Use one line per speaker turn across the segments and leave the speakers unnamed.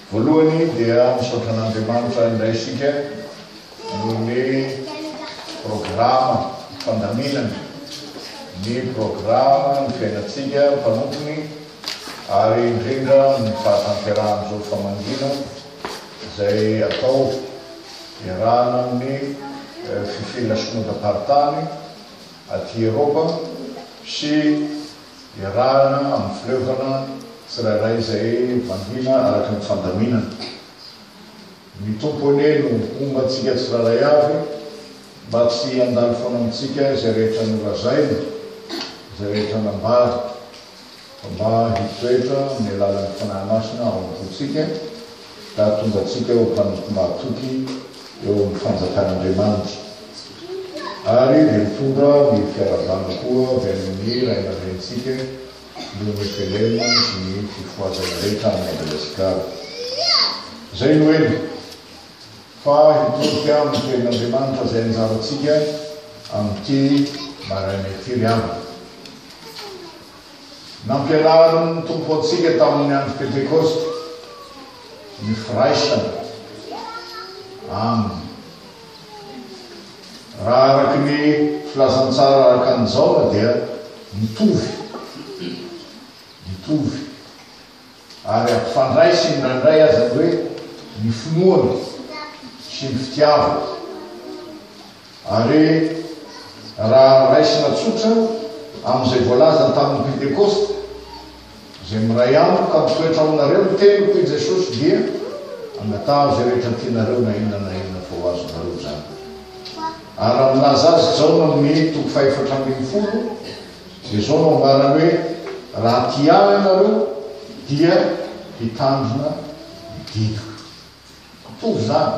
Voalohany dia misaotra an'Andriamanitra indray isika noho ny programa fandaminana ny programa ny fiainantsika mpanompony ary indrindra ny fahatanterahan'izao famangiana izay atao iarahana amin'ny fifehena somontam-paritany aty Eropa sy iarahana amin'ny fileovana tsirairay izay mangina araka ny fandaminana. Mitompo anie no homba antsika tsirairay avy mba tsy handalo foana amintsika izay rehetra nolazaina, izay rehetra nambara Mba hitoetra amin'ny alalan'ny Fanahy Masina ao am-pontsika ka hahatongatsika ho mpanompo mahatoky eo amin'ny fanjakan'Andriamanitra. Ary dia mitondra ny fiarahabana koa avy amin'ny ray aman-drenintsika noho ny velema sy ny fifohazana rehetra any Madagasikara. Izay no eny. Fa hitodika amin'ny Tenin'Andriamanitra izay anjarantsika amin'ity maraina ity ry havana. Nampianarin'ny Tompo antsika tamin'ny Andro Pentekosta ny firaisana Aminy. Raha araka ny Filazantsara araka an'i Jaona dia mitovy, mitovy. ary ampifandray sy mirandray aza ny hoe ny finoana sy ny fitiavana. Ary raha raisina tsotra amin'izay voalazany tamin'ny Pentekosta, izay miray amiko ka mitoetra ao aminareo ny teniko, hoy Jesosy, dia angataho izay rehetra tianareo na inona na inona fa ho azonareo izany. Ary raha milaza azy Jaona amin'ny toko fahefatra ambin'ny folo, Dia izao no ambarany hoe, Raha tia Ahy ianareo, dia hitandrina ny didiko. Mitovy izany.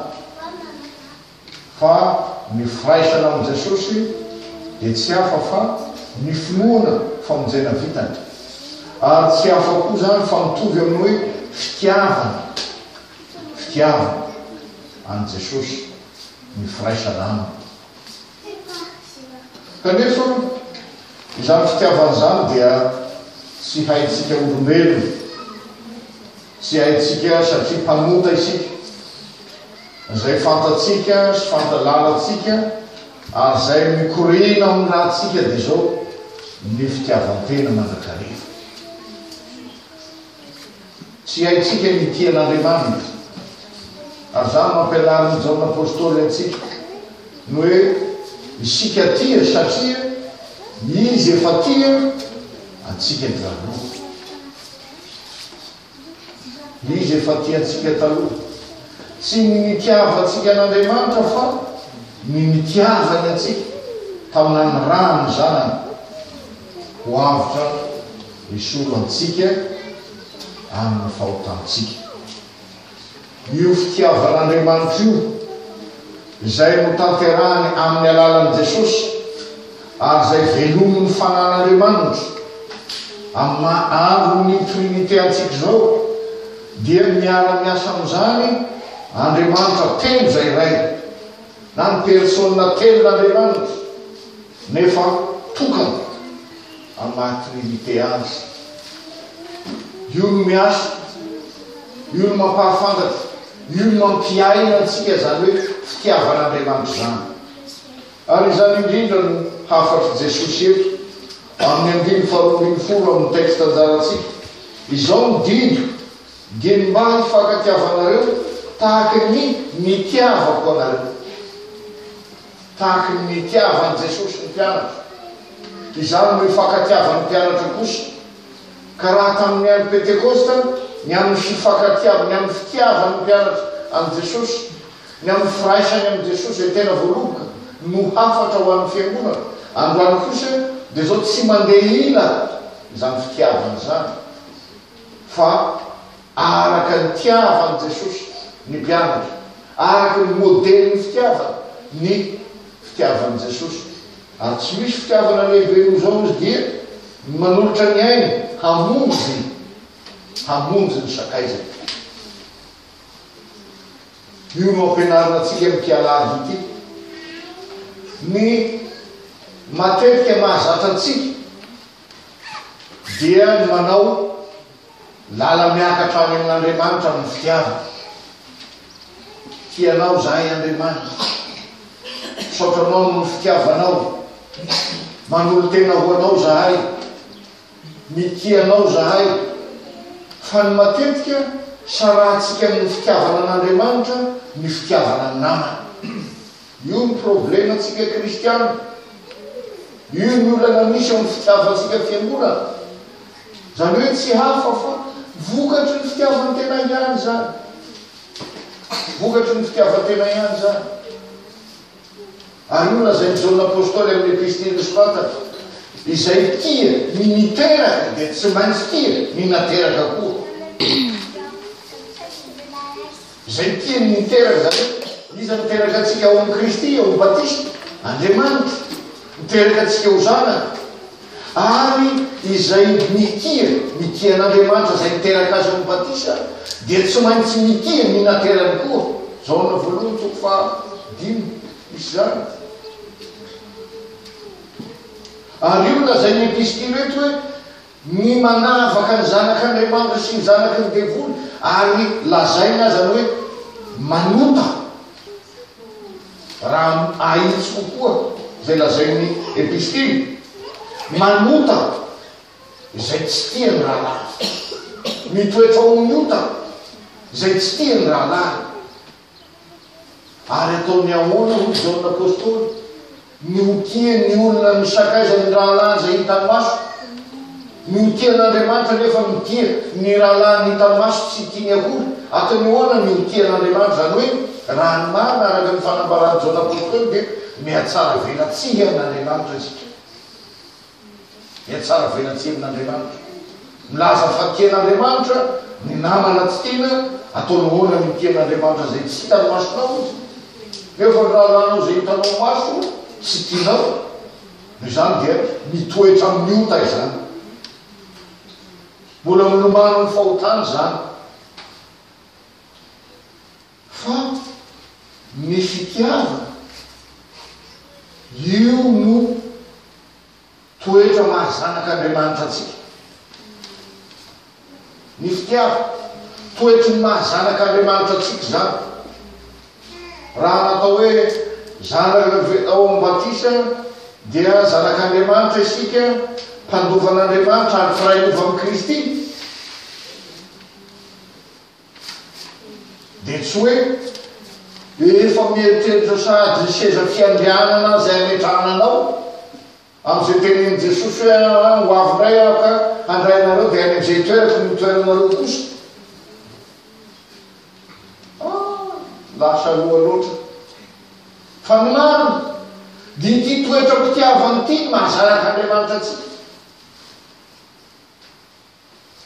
Fa ny firaisana amin'i Jesosy dia tsy hafa fa ny finoana famonjena vitany. Ary tsy hafa koa izany fa mitovy amin'ny hoe fitiavana, fitiavana an'i Jesosy ny firaisana Aminy. Kanefa, izany fitiavana izany dia tsy haintsika olombelona. Tsy haintsika satria mpanota isika. Izay fantatsika sy fantalalantsika ary izay mikoriana amin'ny rantsika dia izao, ny fitiavan-tena mandrakariva. Tsy haintsika ny hitia an'Andriamanitra. Ary izany no ampianarin'i Jaona Apostoly antsika, ny hoe isika tia satria Izy efa tia antsika nialoha. Izy efa tia antsika taloha. Tsy ny nitiavantsika an'Andriamanitra fa ny nitiavany antsika taminan'ny rany Zanany ho avotra Hisolo antsika amin'ny fahotantsika. Io fitiavan'Andriamanitra io, izay notanterahany amin'ny alalan'i Jesosy ary izay velomin'ny Fanan'Andriamanitra amin'ny maha Andron'ny Trinite antsika izao, dia miara-miasa amin'izany Andriamanitra telo izay Ray, na ny Persona telon'Andriamanitra, nefa tokana. Amin'ny maha Trinite Azy. Io no miasa, io no mampahafantatra, io no mampiaina antsika izany hoe fitiavan'Andriamanitra izany. Ary izany indrindra no hafatr'i Jesosy eto amin'ny andininy faharoa ambin'ny folo amin'ny texte anjarantsika, Izao no didiko, dia ny mba hifankatiavanareo tahaka ny nitiavako anareo. Tahaka ny nitiavan'i Jesosy ny mpianatra, izany no hifankatiavan'ny mpianatra kosa. Ka raha tamin'ny andro Pentekosta, ny amin'ny fifankatiavany, ny amin'ny fitiavan'ny mpianatra an'i Jesosy, ny amin'ny firaisany amin'i Jesosy izay tena voaloboka no hafatra ho an'ny Fiangonana, androany kosa dia izao tsy mandeha ila izany fitiavana izany fa Araka ny tiavan'i Jesosy ny mpianatra, araka ny modelin'ny fitiavana ny fitiavan'i Jesosy. Ary tsy misy fitiavana lehibe noho izao izy dia ny manolotra ny ainy hamonjy hamonjy ny sakaizany. Io no ampianarina antsika amin'ity alahady ity. Ny matetika mahazatra antsika dia ny manao Lala miakatra any amin' Andriamanitra amin'ny fitiavana. Tia anao izahay Andriamanitra. Misaotra Anao noho ny fitiavanao. Manolo-tena ho Anao izahay. Mitia Anao izahay. Fa ny matetika sarahantsika amin'ny fitiavana an' Andriamanitra ny fitiavana ny namana. Io ny problema antsika kristiana. Io ny olana misy amin'ny fitiavantsika fiangonana. Izany hoe tsy hafa fa vokatry ny fitiavan-tena ihany izany. Vokatry ny fitiavan-tena ihany izany. Ary io lazain'i Jaona Apostoly amin'ny epistily nosoratany, izay tia ny niteraka dia tsy maintsy tia ny nateraka koa. Izay tiany ny hiteraka, izany hoe iza no miteraka antsika ao amin'i Kristy, ao amin'ny batisa? Andriamanitra, miteraka antsika ho zanany. Ary izay mitia, mitia an'Andriamanitra izay niteraka azy ao amin'ny batisa, dia tsy maintsy mitia ny naterany koa. Jaona voalohany toko faha dimy, misy izany. Ary io no lazain'ny epistily eto hoe, Ny manavaka ny zanak' Andriamanitra sy ny zanaky ny devoly, ary lazaina azany hoe manota, raha ahitsy kokoa izay lazain' ny Epistily, manota izay tsy tia ny rahalahy, mitoetra ho ny ota izay tsy tia ny rahalahy. Ary ataony ahoana, hoy Jaona Apostoly, ny ho tia ny olona ny sakaizan'ny rahalahiny izay hitan'ny maso? Ny ho tia an'Andriamanitra nefa mitia ny rahalahiny hitan'ny maso tsy tiany akory. Ataony ahoana ny ho tia an'Andriamanitra? Izany hoe, raha ny marina araka ny fanambaran'i Jaona Apostoly dia mihatsaravelatsihy an'Andriamanitra isika. dia tsara vaina tsy hevina Andriamanitra. Milaza fa tian' Andriamanitra ny namana tsy tiana, ataonao ahoana ny tian' Andriamanitra izay tsy hitan'ny masonao? Nefa ny raharahanao izay hitanao maso tsy tianao. Noho izany dia mitoetra amin'ny ota izany. Mbola milomano ny fahotana izany. Fa ny fitiavana, io no toetra maha zanak'Andriamanitra antsika. Ny fitiavana, toetry ny maha zanak'Andriamanitra antsika izany. Raha natao hoe zanaka ao amin'ny batisa, dia zanak'Andriamanitra isika, mpandovan'Andriamanitra ary mpiray lova amin'i Kristy. Dia tsy hoe rehefa mieritreritra sahady ny seza fiandrianana izay hametrahana anao, amin'izay tenenin'i Jesosy hoe, Ahy, ho avy indray Aho ka handray anareo dia any amin'izay toerako no hitoeranareo kosa. Ah, lasa aloha loatra. Fa ny marina, dia ity toetra-pitiavana ity no mahazaraka Andriamanitra antsika.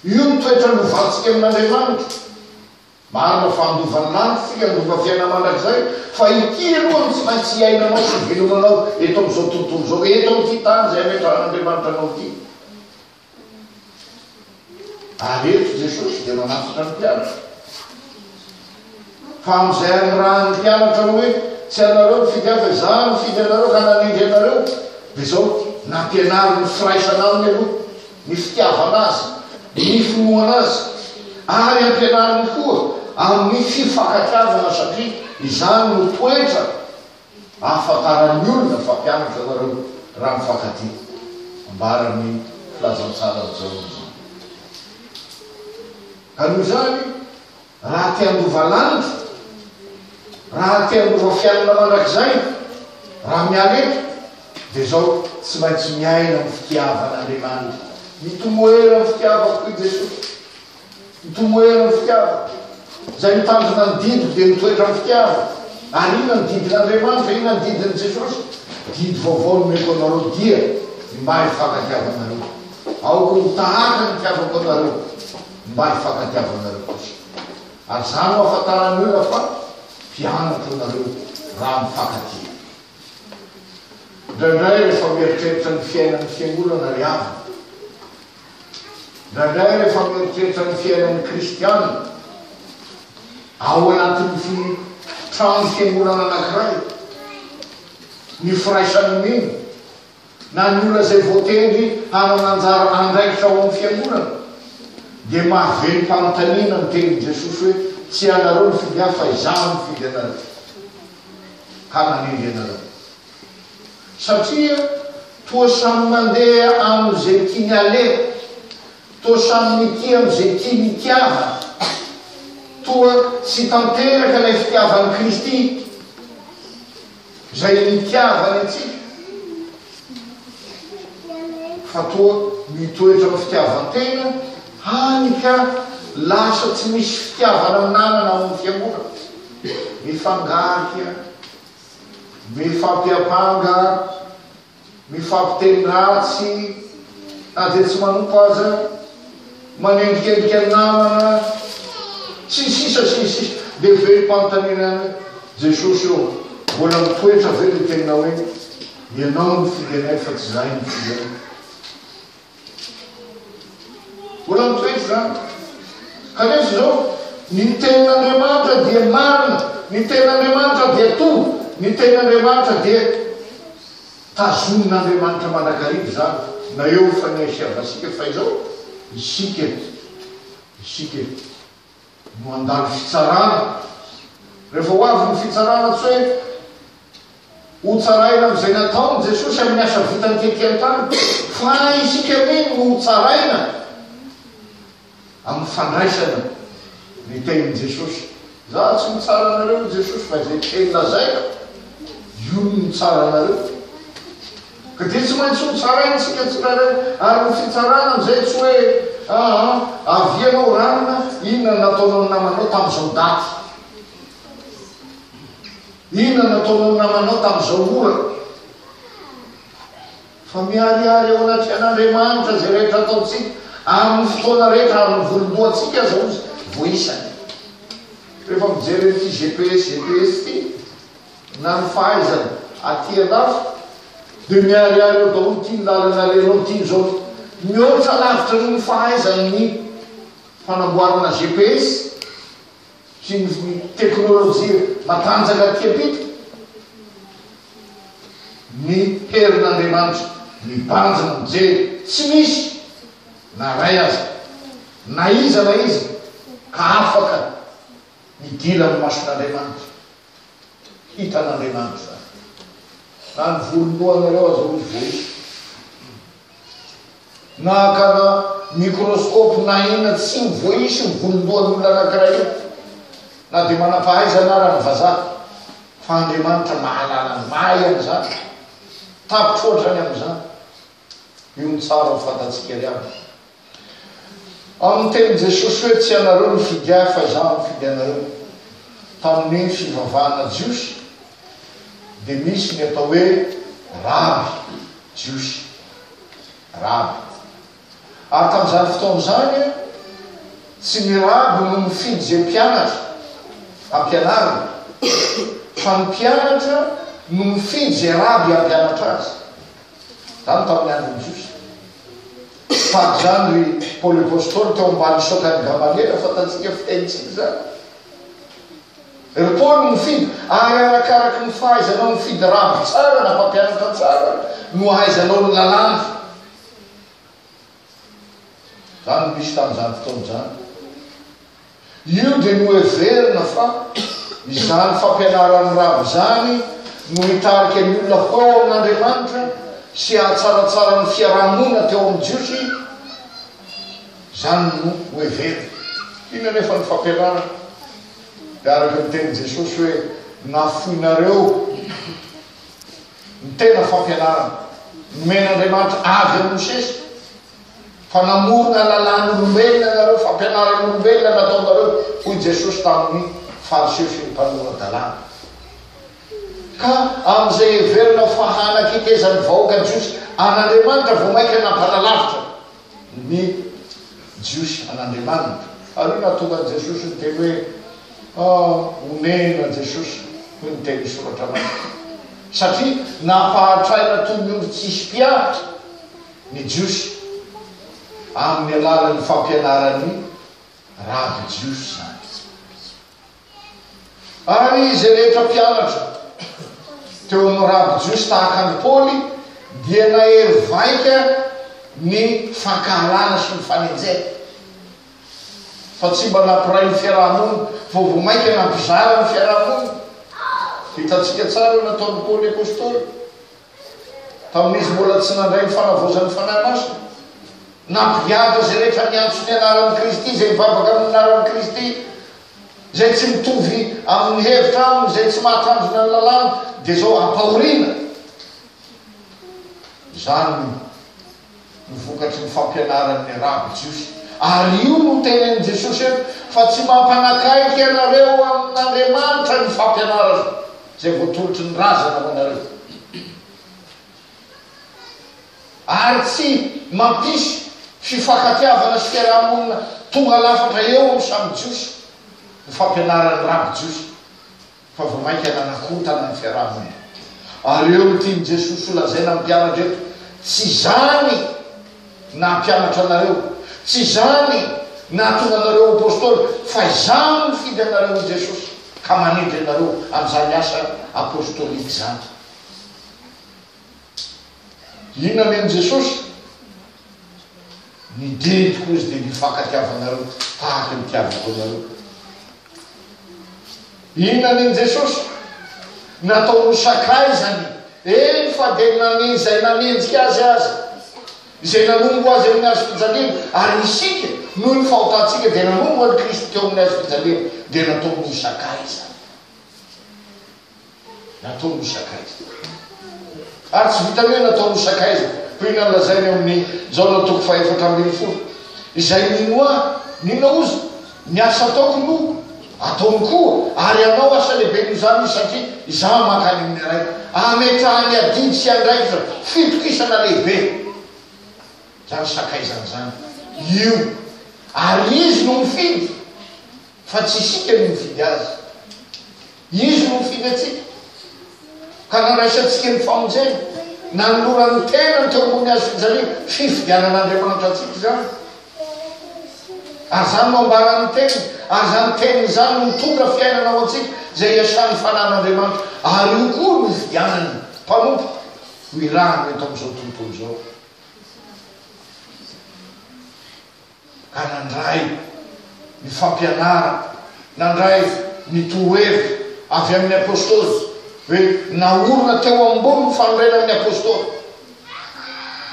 Io no toetra novantsika amin'Andriamanitra. Marina fa handova ny lanitra isika, handova fiainana mandrakizay, fa ity aloha no tsy maintsy hiainanao sy hivelomanao eto amin'izao tontolo izao, eto amin'ity tany izay ametrahan'Andriamanitra anao ity. Ary eto Jesosy dia manafatra ny mpianatra. Fa amin'izay anirahan'ny mpianatra hoe, Tsy ianareo nifidy ahy fa izaho no nifidy anareo ka nanindry anareo, dia izao, nampianaro ny firaisana aminy aloha, ny fitiavana azy, ny finoana azy, ary ampianariny koa amin'ny fifankatiavana satria izany no toetra ahafantaran'ny olona fa mpianatra ianareo raha mifankatia. Ambaran'ny filazantsaran'i Jaona izany. Ka noho izany, Raha te handova landy, raha te handova fiainana mandrakizay, raha miala eto, dia izao, tsy maintsy miaina amin'ny fitiavan'Andriamanitra. Mitomoera amin'ny fitiavako, hoy Jesosy. Mitomoera amin'ny fitiavako. Izay mitandrina ny didiko dia mitoetra amin'ny fitiavako. Ary inona ny didin'Andriamanitra? Inona ny didin'i Jesosy? Didy vaovao nomeko anareo dia ny maha hifankatiavanareo. Aoka ho tahaka ny itiavako anareo. mba hifankatiavanareo kosa. Aza no afantaran'ny olona fa mpianatra ianareo raha mifankatia. Indraindray rehefa mieritreritra ny fiainan'ny fiangonana ry havana, indraindray rehefa mieritreritra ny fiainan'ny kristiana, ao anatin'ny fi trano fiangonana anankiray, ny firaisan'ny mino, na ny olona izay voatendry hanana anjara andraikitra ao amin'ny fiangonana, dia mahavelom-panontaniana ny tenin'i Jesosy hoe, Tsy ianareo nifidy ahy, fa Izaho no nifidy anareo, ka nanendry anareo. Satria toa samy mandeha amin'izay tiany aleha, toa samy mitia amin'izay tiany itiavana, toa tsy tanteraka ilay fitiavan'i Kristy. Izay nitiavany antsika, fa toa mitoetra amin'ny fitiavan-tena hany ka lasa tsy misy fitiavana ananana ao amin'ny fiangonana. Mifangarika, mifampiampanga, Mifampiteny ratsy na dia tsy manompa aza, manendrikendrika ny namana, sy ny sisa sy ny sisa. Dia velom-panontaniana ihany hoe, Jesosy ô, mbola mitoetra ve ilay teninao hoe, Ianao no fidianay fa tsy izahay no fidianao? Mbola mitoetra izany. Ka nefa izao, ny tenin'Andriamanitra dia marina, ny tenin'Andriamanitra dia toa, ny tenin'Andriamanitra dia tazonin'Andriamanitra mandrakariva izany na eo ny faniahisehavantsika fa izao, isika, isika. no handalo fitsarana. Rehefa ho avy ny fitsarana, tsy hoe hotsaraina amin'izay nataon'i Jesosy amin'ny asa vitany tety an-tany, fa isika anie no hotsaraina amin'ny fandraisana ny tenin'i Jesosy. Za tsy mitsara anareo, hoy Jesosy, fa izay teny lazaiko, io no mitsara anareo. Ka dia tsy maintsy hotsaraintsika tsirairay ary ny fitsarana amin'izay tsy hoe aa avia anao ranona inona no nataonao ny namanao tamin'izao daty? Inona no nataonao ny namanao tamin'izao ora? Fa miharihary eo anatrehan'Andriamanitra izay rehetra ataontsika amin'ny fotoana rehetra ary ny volom-boantsika aza hozy voaisany. Rehefa mijery an'ity GPS GPS ity, na ny fahaizana aty andafy dia miharihary eo daholo ity ny lalana alenao ity izao mihoatra lavitra noho ny fahaizany ny fanamboarana GPS sy ny teknolojia matanjaka aty ampita ny herin'Andriamanitra mibanjina mijery tsy misy na ray aza na iza na iza ka afaka midila ny mason'Andriamanitra Hitan'Andriamanitra izany. Na ny volon-dohanareo aza hoy izy vao hisy. Na hakana mikrôskôpy na inona tsy ho voaisy ny volon-dohan'olona anankiray io. Na dia manam-pahaizana ara ny vazaha. Fa Andriamanitra mahalala ny mahay an'izany. Tapitra ohatrany amin'izany. Io ny tsara ho fantatsika ry havana. Ao ny tenin'i Jesosy hoe tsy ianareo mifidy ahy fa izaho no mifidy anareo. Tamin'ny fivavahana jiosy dia misy ny atao hoe raby jiosy, raby. Ary tamin'izany fotoana izany, tsy ny raby no mifidy izay mpianatra hampianariny, fa ny mpianatra no mifidy izay raby hampianatra azy. Izany tamin'ny andron'i Jiosy. Fady izany ry Paoly Apostoly teo ambany saokan'i Gamaliela, fantatsika fitenintsika izany. Ry Paoly mifidy, ary arakaraky ny fahaizanao mifidy raby tsara na mpampianatra tsara no ahaizanao ny lalàna. Izany no nisy tamin'izany fotoana izany. Io dia noheverina fa izany fampianaran'ny rava izany no hitarika ny olona ho ao amin'Andriamanitra sy hahatsaratsara ny fiaraha-monina teo amin'ny Jiosy. Izany no noheverina. Inona anefa ny fampianarana? Dia araka ny tenin'i Jesosy hoe, Nafoinareo. Ny tena fampianarana nomen'Andriamanitra avy amin'i Mosesy, Fa namorona lalàn'olombelona ianareo, fampianaran'olombelona no ataonareo, hoy i Jesosy tamin'ny Fariseo sy ny mpanora-dalàna. Ka amin'izay heverina fa hanaketezan'ny vahoaka jiosy an'Andriamanitra vao mainka nampanalavitra ny Jiosy an'Andriamanitra. Ary io nahatonga an'i Jesosy niteny hoe, Ah, onena Jesosy, hoy ny tenin'ny Soratra Masina. Satria nampahatraina toy ny ondry tsy hisy mpiaritra ny Jiosy amin'ny alalan'ny fampianaran'ny rabi-jiosy izany. Ary izay rehetra mpianatra teo amin'ny raby jiosy tahaka an'i Paoly dia nahery vaika ny fankahalana sy ny fanenjehana, fa tsy mba nampiray ny fiaraha-monina, fa vao mainka nampizara ny fiaraha-monina. Hitantsika tsara ny nataon'i Paoly Apostoly. tamin'izy mbola tsy nandray ny fanavaozan'ny Fanahy Masina. Nampigadra izay rehetra niantso ny anaran'i Kristy, izay nivavaka amin'ny anaran'i Kristy, izay tsy mitovy amin'ny hevitra aminy, izay tsy mahatandrina ny lalàna, dia izao ampahoriana. Izany Ny vokatry ny fampianaran'ny Arabo Jiosy. Ary io no tenenin'i Jesosy eto, fa tsy mampanakaiky ianareo amin'Andriamanitra ny fampianarana izay voatolotry ny razana ho anareo, ary tsy mampisy fifankatiavana sy fiaraha-monina tonga lafatra eo amin'ny samy Jiosy ny fampianaran'ny Raby Jiosy. fa vao mainka nanakotana ny fiaraha-monina. Ary eo no tian'i Jesosy ho lazaina amin'ny mpianatra eto, Tsy izany nampianatra anareo, tsy izany nahatonga anareo ho apostoly, fa izaho no nifidy anareo, hoy Jesosy, ka manendry anareo amin'izany asa apostolika izany. Inona nomen'i Jesosy? Ny didiko, hoy izy, dia ny hifankatiavanareo tahaka ny nitiavako anareo. Inona ny an'i Jesosy? Nataony ho sakaizany, eny fa dia naneho izay nanenjika Azy aza, izay nanompo Azy amin'ny hazofijaliana, ary isika, noho ny fahotantsika, dia nanompo an'i Kristy teo amin'ny hazofijaliana, dia nataony ho sakaizany. nataony ho sakaiza. Ary tsy vitan'ny hoe nataony ho sakaiza, toy ny nolazainy amin'ny Jaona toko fahefatra ambin'ny folo, Izay mino ahy, n'inona ozy, ny asa ataoko no ataony koa, ary hanao asa lehibe noho izany izy, satria izaho mankany amin'ny Ray. Ametrahany adidy sy andraikitra fitokisana lehibe izany sakaizana izany. Io. Ary Izy no mifidy, fa tsy isika no mifidy Azy. Izy no mifindra antsika ka nandraisantsika ny famonjena. Nanolorany ny tenany teo ambony hazo fijaliana, fifidianan'Andriamanitra antsika izany. Ary izany no ambaran'ny teniny, ary izany teniny izany no mitondra fiainana ho antsika, izay iasan'ny fanan'Andriamanitra, ary io koa no ifidianany mpanompo ho irahany eto amin'izao tontolo izao. ka nandray ny fampianarana, nandray ny torohevitra avy amin' ny apôstôly, hoe naorina teo ambony ny fanorenan' ny apôstôly.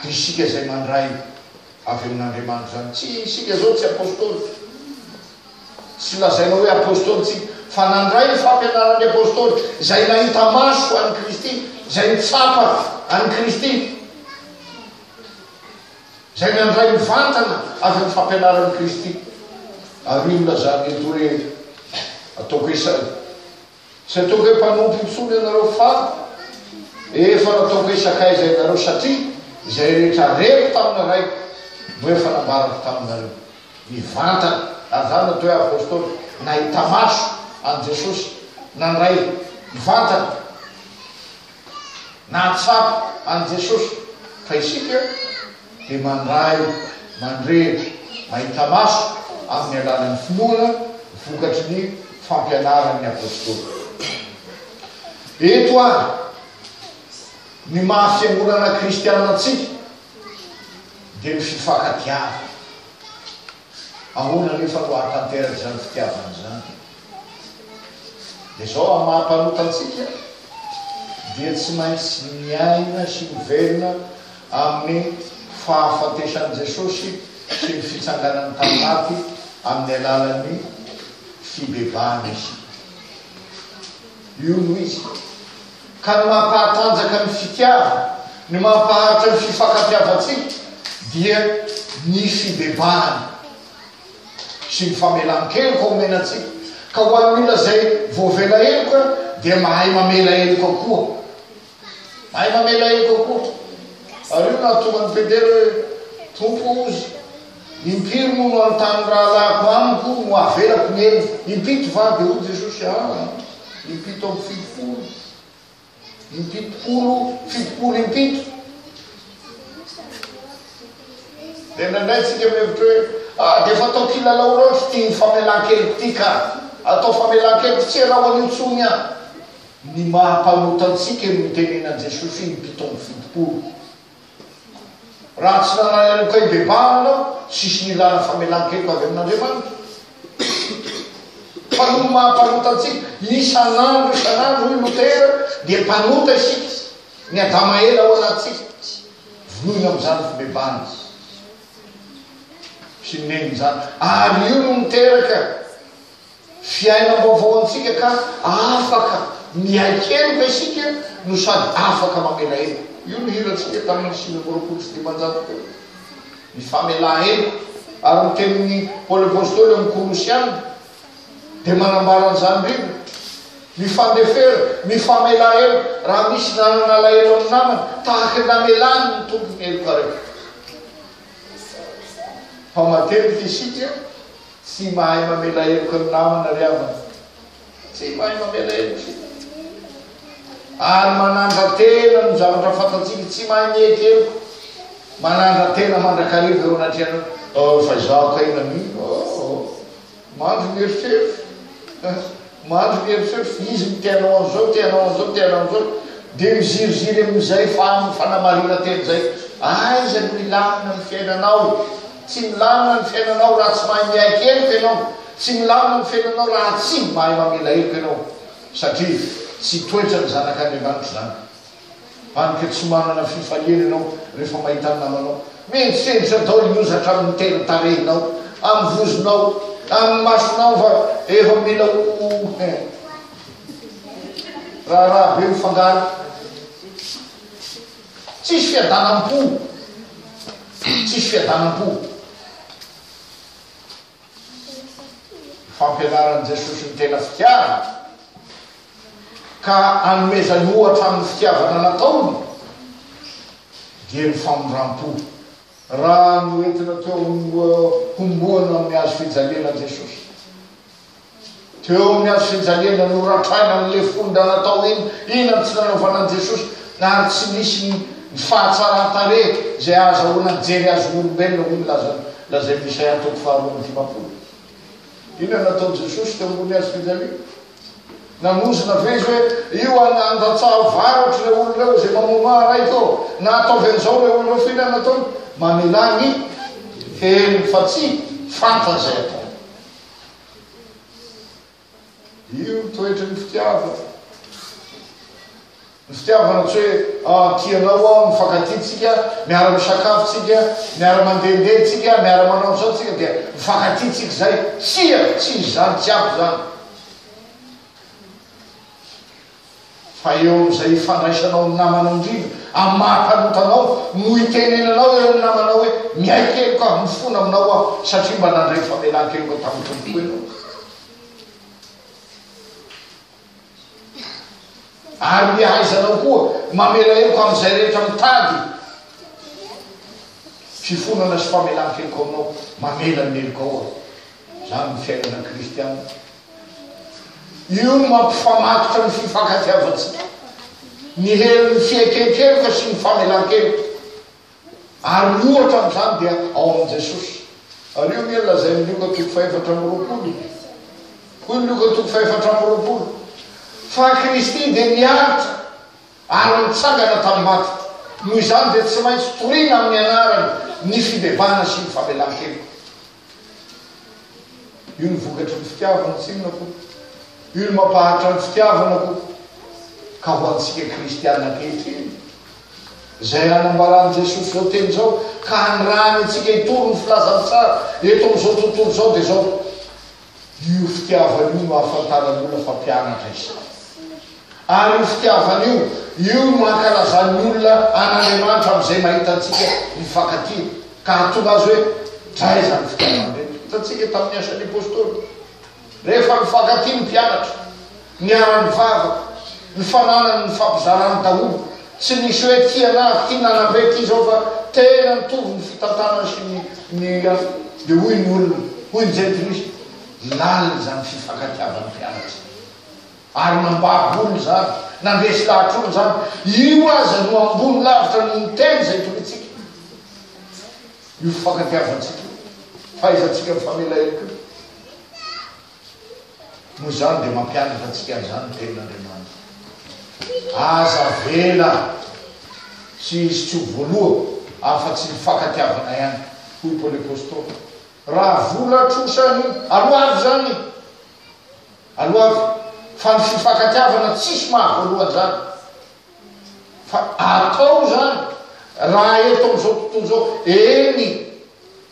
Dia isika izay mandray avy amin' Andriamanitra izany. Tsy isika izao tsy apôstôly, tsy lazaina hoe apôstôly isika, fa nandray ny fampianaran' ny apôstôly, izay nahita maso an' i Kristy, izay nitsapa an' i Kristy. izay nandray mivantana avy amin'ny fampianaran'i Kristy. Ary inona izany ry Dory e? Ataoko isany. Tsy ataoko hoe mpanompo intsony ianareo fa efa nataoko hoe sakaiza ianareo satria izay rehetra reko tamin'ny Raiko no efa nambarako taminareo. Mivantana, ary izany natao hoe apostoly, nahita maso an'i Jesosy, nandray mivantana. Nahatsapa an'i Jesosy fa isika dia mandray mandrehitra mahita maso amin'ny alalan'ny finoana vokatry ny fampianaran'ny Apostoly. Eto àry ny maha fiangonana kristiana antsika dia ny fifankatiavana. Ahoana anefa no ahatanteraka izany fitiavana izany? Dia izao, amin'ny maha mpanota antsika dia tsy maintsy miaina sy miverina amin'ny fahafatesan'i Jesosy sy ny fitsanganany tamin'ny maty amin'ny alalan'ny fibebahana isika. Io no izy ka ny mampahatanjaka ny fitiavana, ny mampaharitra ny fifankatiavantsika dia ny fibebahana sy ny famelan-keloka omena antsika, ka ho an'ny olona izay voavela heloka dia mahay mamela heloka koa. Hay mamela heloka koto. Ary io nahatonga an'i Petera hoe, Tompo o, za, impiry moa no hanontany ny rahalahiko amiko no havelako ny helony? Impito va? Dia hoy Jesosy, Aa, impito amby fitopolo. Impitopolo, fitopolo impito. Dia indraindray tsika mihevitra hoe, Aa, dia efa atao kilalao loatra ity famelan-keloka ity ka. Atao famelan-keloka tsy iaraho an'intsony aho. Ny maha mpanota antsika ny nitenenan Jesosy ny mpitombo fitopolo. Raha tsy nanahy heloka hibebahana aho, tsisy nilana famelan-keloka avy amin Andriamanitra. Fa noho ny maha mpanota antsika, isanandro isanandro, hoy Lotera, dia mpanota isika, ny Adama ela ao anatintsika, vonoina amin izany fibebahana sy ny neniny izany. Ary io no niteraka Fiainam-baovao antsika ka afaka miaiky heloka isika no sady afaka mamela heloka. Io no hirantsika tamin'ny sivy amby roapolo sy dimanjato teo. Ny famelan-heloka ary ny tenin'i Paoly Apostoly amin'ny Kolosiana dia manambara an'izany indrindra. Mifandefera, mifamelà heloka raha misy nanana alahelo amin'ny namany, tahaka ny namelany ny Tompo ny heloka rehetra. Mpamadihdidy isika. Tsy mahay mamela heloka ny namana ry havana. Tsy mahay mamela heloka isika. Ary manandra-tena ny zavatra fantatsika. Tsy mahay miheky heloka. Manandra-tena mandrakariva eo anatrehanao. Oh, fa izaho kay na mino. Oh, oh. Mandry mieritreritra. Mandry ny eritreritra, izy no te-hanao an'izao, te-hanao an'izao, te-hanao an'izao, dia miziriziry amin'izay fanamarinantena izay. Aiza no hilamina ny fiainanao? Tsy milamina ny fiainanao raha tsy mahay miaiky heloka ianao. Tsy milamina ny fiainanao raha tsy mahay mamela heloka ianao, satria tsy toetran'ny zanak'Andriamanitra izany. Hany ka tsy manana fifaliana ianao rehefa mahita ny namanao mihenjikejika daholo ny hozatra amin'ny tendro tarehinao, amin'ny vozonao, amin'ny masonao fa efa mila ho hein. Raharaha be mifangaro. Tsisy fiadanam-po. Tsisy fiadanam-po. Fampianaran'i Jesosy ny tena fitiavana ka anomezany ohatra amin'ny fitiavana nataony dia ny famindram-po. Raha noentina teo amin'ny homboana amin'ny hazo fijaliana Jesosy, Teo amin'ny andro finjaliana no rantraina ny lefon-dra natao iny, inona no tsy nanaovana an'i Jesosy ary tsy nisy ny ny fahatsaran-tarehy izay ahazahoana ny jery azon'ny olombelona hoy ny laza lazain'i Isaia toko faharoa amby dimampolo. Inona no nataon'i Jesosy teo ambony hazo finjaliana? Nanozona ve izy hoe io an andatsaha varotro ireo olona ireo izay mamonoa ahy raiko ô? Na ataovy an'izao ireo olona ireo fa inona no ataony? Mamelà ny helony fa tsy fantany izay ataony. Io ny toetry ny fitiavana. Ny fitiavana tsy hoe ah, tianao aho, mifankatintsika, miara-misakafo tsika, miara-mandehandeha tsika, miara-manao izao tsika, dia mifankatintsika izay. Tsia, tsy izany, tsy ampy izany. Fa eo amin'izay ifandraisanao amin'ny namanao indrindra, amin'ny maha-mpanontanao, no hitenenanao eo amin'ny namanao hoe, Miaiky heloka avy mifona aminao aho, satria mba nandray famelan-keloka tamin'ny Tompo koa ianao. Ary ny ahaizanao koa mamela heloka amin'izay rehetra mitady fifonana sy famelan-keloka aminao, mamela ny helokao aho. Izany no fiainana kristiana. Io no mampifamatotra ny fifankatiavantsika, ny herin'ny fieken-keloka sy ny famelan-keloka. Ary ny ohatra amin'izany dia ao amin'i Jesosy. Ary io anie no lazain'i Lioka toko fahefatra amby roapolo e. Hoy ny Lioka toko fahefatra amby roapolo fa Kristy dia niaritra ary nitsangana tamin'ny maty. Noho izany dia tsy maintsy torina amin'ny anarany ny fibebahana sy ny famelan-keloka. Io ny vokatry ny fitiavana, tsy inona koa. Io ny mampaharitra ny fitiavana koa. Ka ho antsika kristiana ankehitriny, izay anambaran'i Jesoa izao teny izao, ka anirahany antsika hitory ny filazany tsara eto amin'izao tontolo izao dia izao. Io fitiavana io no ahafantaran'olona fa mpianatra izy. Ary io fitiavana io, io no ankalazan'ny olona an'Andriamanitra amin'izay mahita antsika mifankatia, ka hahatonga azy hoe, Dra izany fitiavana ireny! Hitantsika tamin'ny Asan'ny Apostoly, rehefa mifankatia ny mpianatra. Niara-nivavaka, nifanala ny nifampizarany daholo. Tsy nisy hoe ty anah, ty nanam-be ty zao fa tena nitovy ny fitantanany sy ny ny azy. Dia hoy ny olona, hoy ny jentilisa, lalina izany fifankatiavan'ny mpianatra. Ary nambabo olona izany, nandresy lahatra olona izany. Io aza no ambony lavitra noho ny teny izay torintsika. Io fifankatiavantsika io, fahaizantsika mifamela ihany koa. Moa izany dia mampianatra antsika an'izany ny Tenin'Andriamanitra. Aza avela tsy hisy tsy ho voaloa afa-tsy ny fankatiavana ihany, hoy Paoly Apostoly. Raha vola trosa ny aloavy izany, aloavy, fa ny fifankatiavana tsisy maha voaloa an'izany. Fa atao izany raha eto amin'izao tontolo izao, eny,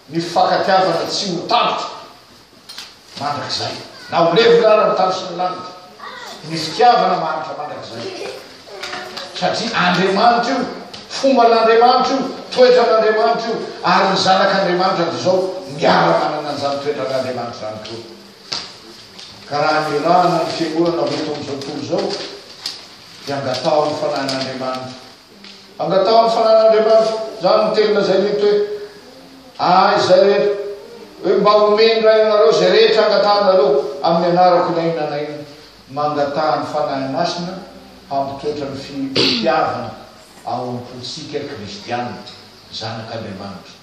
ny fifankatiavana tsy ho tapitra mandrakizay, na ho levona ara ny tany sy ny lanitra, ny fitiavana mahantra mandrakizay. Satria Andriamanitra io, fomban'Andriamanitra io, toetran'Andriamanitra io, ary ny zanak'Andriamanitra dia izao miara-manana an'izany toetran'Andriamanitra izany koa. Ka raha nirahana ny fiangonana ho eto amin'izao tontolo izao, dia angataho ny Fanahin'Andriamanitra. Angataho ny Fanahin'Andriamanitra. Izany no teny lazainy eto hoe, Ahy izay rehetra, hoe mba homeny indray anareo izay rehetra angatahanareo amin'ny anarako na inona na inona. Mangataha ny Fanahy Masina hampitoetra ny fitiavana ao am-pontsika kristiana, zanak'Andriamanitra.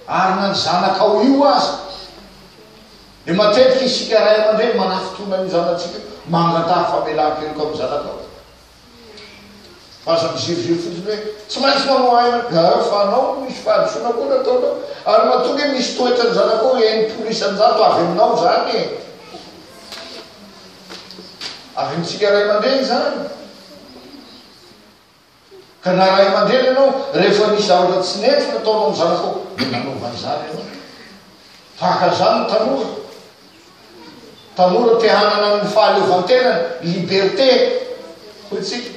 Ary na ny zanakao io aza. Dia matetika isika ray aman-dreny manafitona ny zanatsika, mangataha famelan-keloka amin'ny zanakao. Fa aza miziriziry fotsiny hoe tsy maintsy manao ahy ianao, dia rehefa anao no misy fahadisoana koa no ataonao. Ary matoa ange misy toetran'ny zanakao enimpolo isan-jato avy aminao izany e. Avy amintsika ray aman-dreny izany. Ka na ray aman-dreny ianao, rehefa nisy zavatra tsy nety nataonao ny zanakao, dia nanova izany ianao. Tahaka an'izany ny tanora. Tanora te hanana ny fahaleovantenany, liberté, hoy isika.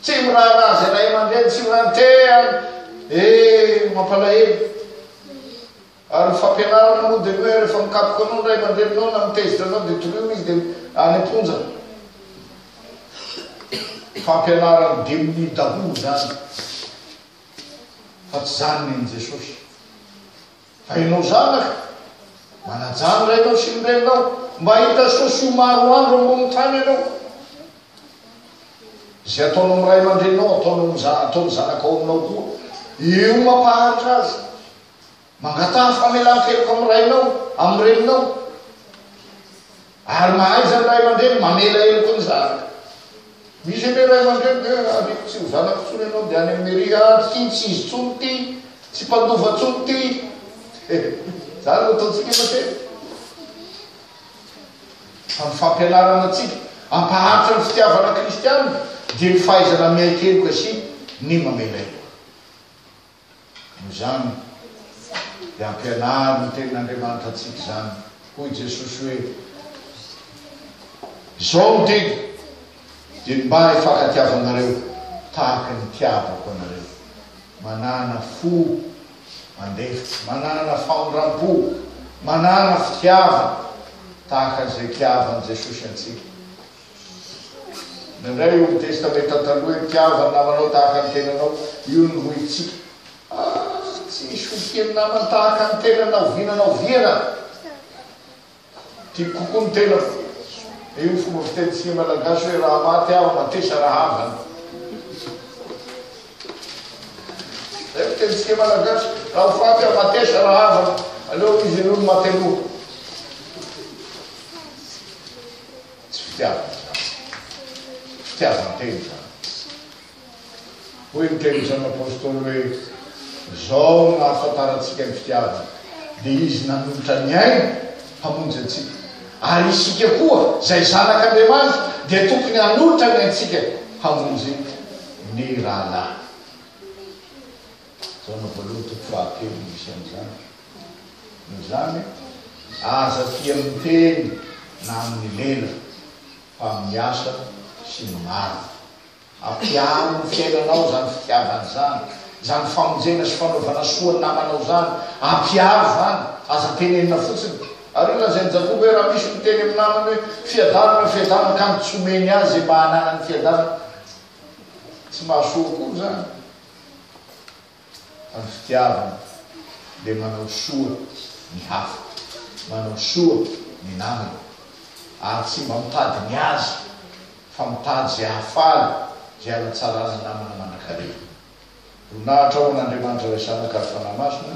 Tsy miraharaha izay ray aman-dreny, tsy miraharaha ny teany. Eh, mampalahelo. Ary ny fampianarana moa dia ny hoe rehefa mikapoka anao ny ray aman-dreninao na mitezitra anao dia torohina izy dia any am-ponja. Fampianaran'ny demonia daholo izany fa tsy izany nen'i Jesosy. Fa ianao zanaka, manajà ny rainao sy ny reninao mba hahita soa sy ho maro andro ambonin'ny tany ianao. Izay ataonao amin'ny ray aman-dreninao, ataonao amin'ny ataon'ny zanakao aminao koa. Io mampaharitra azy. Mangataha famelan-keloka amin'ny rainao, amin'ny reninao. Ary mahaiza ny ray aman-dreny mamela heloka ny zanaka. Misy anie ray aman-dreny dia ariako tsy ho zanako intsony ianao dia any amin'ny mairie ah, tsy tiany tsy izy intsony ity, tsy mpandova intsony ity. Izany no ataontsika matetika. Fa ny fampianarana antsika hampaharitra ny fitiavana kristianina dia ny fahaizana miaiky heloka sy ny mamela heloka. Noho izany, dia ampianaro ny Tenin'Andriamanitra antsika izany. Hoy Jesosy hoe, Izao no didy, dia ny mba hifankatiavanareo tahaka ny nitiavako anareo. Manana fo mandefitra, manana famindram-po, manana fitiavana tahaka an'izay itiavan'i Jesosy antsika. Nandray ny Old Testamenta Taloha i Mpihavana namanao tahaka ny tenanao. Io no ho ivintsika. Ah, tsy misy hovian'ny namany tahaka ny tenany na oviana na oviana. Tiako kokoa ny tenako. Io ny fomba fitenintsika Malagasy hoe raha maty aho, matesa rahavana. Zay ny fitenintsika Malagasy. Raha ho faty aho, matesa rahavana. Aleo izy aloha no maty aloha. Tsy fitiavana izany. Fitiavan-tena izany. Hoy ny teny isan'ny Apôstôly hoe, Izao no ahafantarantsika ny fitiavana, dia Izy nanolotra ny ainy hamonjy antsika. Ary isika koa, izay zanak'Andriamanitra, dia tokony hanolotra ny aintsika hamonjy ny rahalahy. Taona voalohany toko fahatelo no misy an'izany. Noho izany, aza tia amin'ny teny na amin'ny lela fa amin'ny asa sy ny marina. Ampiaro ny fiainanao izany fitiavana izany, izany famonjena sy fanaovana soa ny namanao izany. Ampiaro izany, aza tenenina fotsiny. Ary io lazain'i Jakoba hoe raha misy miteny amin'ny namany hoe, Fiadanana, fiadanana, ka ny tsy omeny azy izay mba hananany fiadanana, tsy mahasoa akory izany. Ny fitiavana dia manao soa ny hafa, manao soa ny namany, ary tsy mba mitady ny azy, fa mitady izay hahafaly, izay hanatsarana ny namana manankarena. Voninahitra ho an'Andriamanitra Ilay Zanaka ary Fanahy Masina,